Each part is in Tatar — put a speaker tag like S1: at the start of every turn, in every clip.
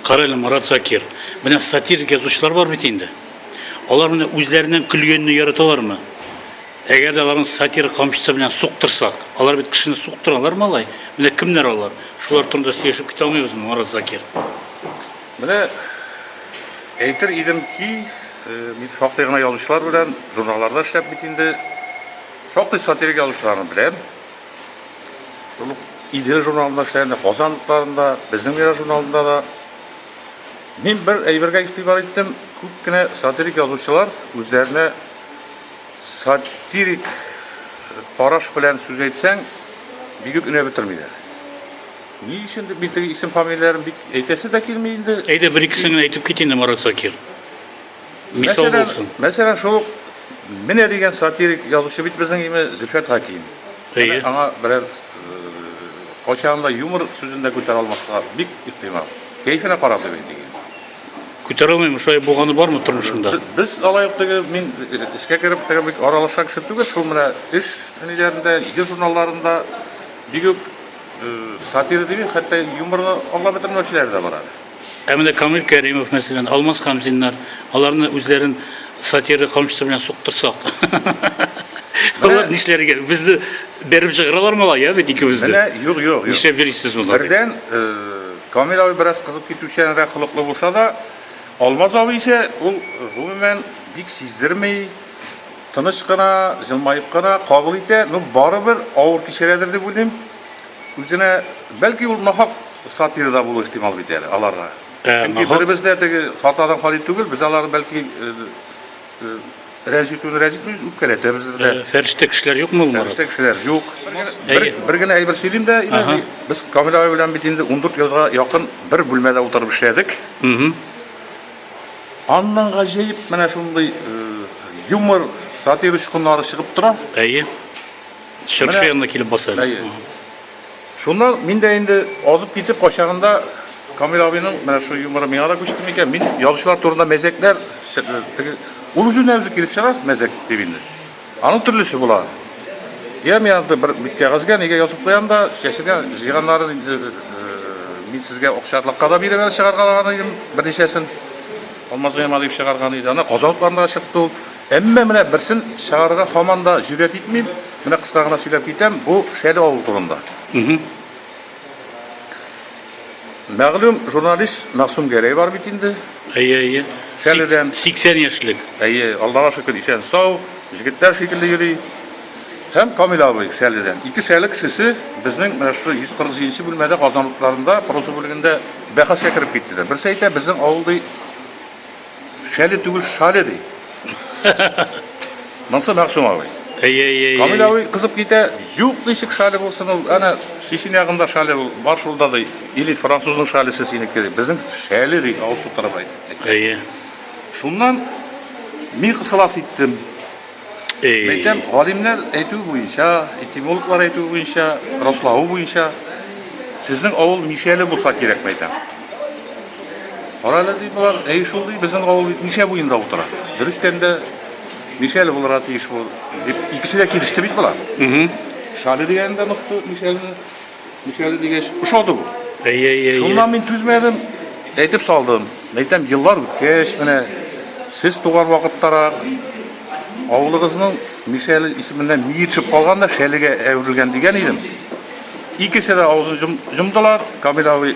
S1: Карале, Марат Закир. Менә сатирик язучылар бар бит инде. Алар менә үзләренең көлгәнне яраталармы? Әгәр дә аларны сатира камчысы белән суктырсак, алар бит кешене суктыралар, малай. Менә кемнәр алар? Шулар турында сөйләшеп китә алмыйбыз, Марат Закир. Менә
S2: әйтер идем ки, э, мин шактый гына язучылар белән журналларда эшләп бит инде. Шактый сатирик язучыларны беләм. Шул ук Идел журналында эшләгәндә, Казан утларында, безнең Мирас журналында да. Мин бер әйбергә игътибар иттем, күп кенә сатирик язучылар үзләренә сатирик караш белән сүз әйтсәң, бик үк өнә бетермиләр. Ни өчен дип мин теге исем-фамилияләрен бик әйтәсе дә килми инде. Әйдә, бер-икесен генә әйтеп
S1: кит инде, Марат Закир. Мисал мәсәлән, булсын. Мәсәлән, шул ук
S2: Менә дигән сатирик язучы бит безнең име Зөлфәт Хаким. Әйе. Аңа
S1: берәр
S2: кайчагында юмор сүзен дә күтәрә алмаска бик ихтимал. Кәйфенә карап дип әйтик. Күтәрә
S1: алмыйм, шулай булганы бармы тормышында? Без алай ук теге
S2: мин эшкә кереп теге бик аралашкан кеше түгел, шул менә эш ниләрендә, җыр журналларында бигүк сатира дип, хәтта юморны аңлап бетермәүчеләр дә бар. Ә менә Камил
S1: Кәримов, мәсәлән, Алмаз Хамзиннар, аларны үзләрен сатира камчысы белән суктырсак. Алар нишләргә? Безне бәреп чыгаралар мала, я бит икебезне. Менә юк, юк, юк. Нишләп йөрисез
S2: монда?
S1: Бердән, э,
S2: Камил абый бераз кызып китүчәнрәк холыклы булса да, Алмаз абый исә ул гомумән бик сиздерми, тыныч кына, җылмаеп кына кабул итә. Ну, барыбер авыр кичерәдер дип уйлыйм. Үзенә, бәлки ул нахак сатира да булу ихтимал бит әле аларга. Ә, Чөнки нахак. беребез дә теге хатадан хали түгел, без алар бәлки э, э, рәнҗетүне рәнҗетмибез, үпкәләтәбез дә. Ә, Фәрештә кешеләр юкмы
S1: ул, Марат? Фәрештә кешеләр юк.
S2: Бер, Әйе. бер генә әйбер сөйлим дә, инде Ага. без Камил абый белән бит инде 14 елга якын бер бүлмәдә утырып эшләдек. Мгм. Аннан гаҗәеп менә шундый э, юмор, сатир очкыннары чыгып тора. Әйе.
S1: Чыршы янына килеп баса. Әйе.
S2: Шуннан мин дә инде азып китеп качагында Камил абыйның менә шул юморы миңа да күчте микән? Мин язучылар турында мәзәкләр теге ул үзенә үзе килеп чыга мәзәк дип инде. Аның төрлесе була. Я мин анда бер кәгазьгә нигә язып куям да, чәчегә җыйганнарын инде э, мин сезгә акча атлакка да биреп әле чыгарган идем берничәсен. Алмаз Гыймадиев чыгарган иде. Ана казалыкларында чыкты ул. Әмма менә берсен чыгарырга һаман да җөрьәт итмим, менә кыска гына сөйләп китәм, бу Шәле авылы турында. Мәгълүм журналист Мәгъсүм Гәрәй бар бит инде. Әйе, әйе.
S1: Шәледән.
S2: 80 яшьлек.
S1: Әйе, Аллага шөкер,
S2: исән-сау, җегетләр шикелле йөри. Һәм Камил абый Шәледән. Ике Шәле кешесе безнең менә шушы 147 нче бүлмәдә казанлыкларында проза бүлегендә бәхәскә кереп киттеләр. Берсе әйтә, безнең авыл ди, Шәле түгел, шале ди. Монсы Мәгъсүм абый. Әйе, әйе, әйе. Камил
S1: абый кызып
S2: китә, юк ничек шале булсын ул, әнә Чечен ягында шале ул, бар шулда ди. Или французның шалесе синеке ди. Безнең шәле ди, авыз тутырып әйтте. Әйе.
S1: Шуннан
S2: мин кысыласы иттем. Мәйтәм, галимнәр әйтүе буенча, этимологлар әйтүе буенча, раславы буенча, сезнең авыл Мишәле булса кирәк, мәйтәм. Карале ди болар, әй шул ди, безнең авыл бит Мишә буенда утыра. Дөрестән дә Мишәле булырга тиеш бу. Дип икесе дә килеште бит болар. Шале дигән дә нык Мишәле. Мишәле дигәч, ошады бу. Әйе, әйе, әйе. Шуннан
S1: мин түзмәдем,
S2: әйтеп салдым. Әйтәм, еллар үткәч, менә сез туган вакыттарак авылыгызның Мишәле исеменнән миер төшеп калган да шәлегә әверелгән дигән идем. Икесе дә авызын җом- җомдылар, Камил абый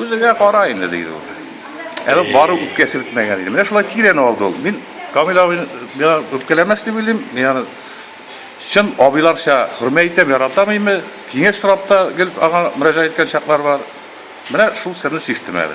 S2: Үзеңә кара инде, диде ул. Әле бары үпкә селкмәгән иде. Менә шулай тирән алды ул. Мин Камил абыйны миңа үпкәләмәс дип уйлыйм. Мин аны чын абыйларча хөрмәт итәм, яратам име. Киңәш сорап та гел аңа мөрәҗәгать иткән чаклар бар. Менә шул серне чиштем әле.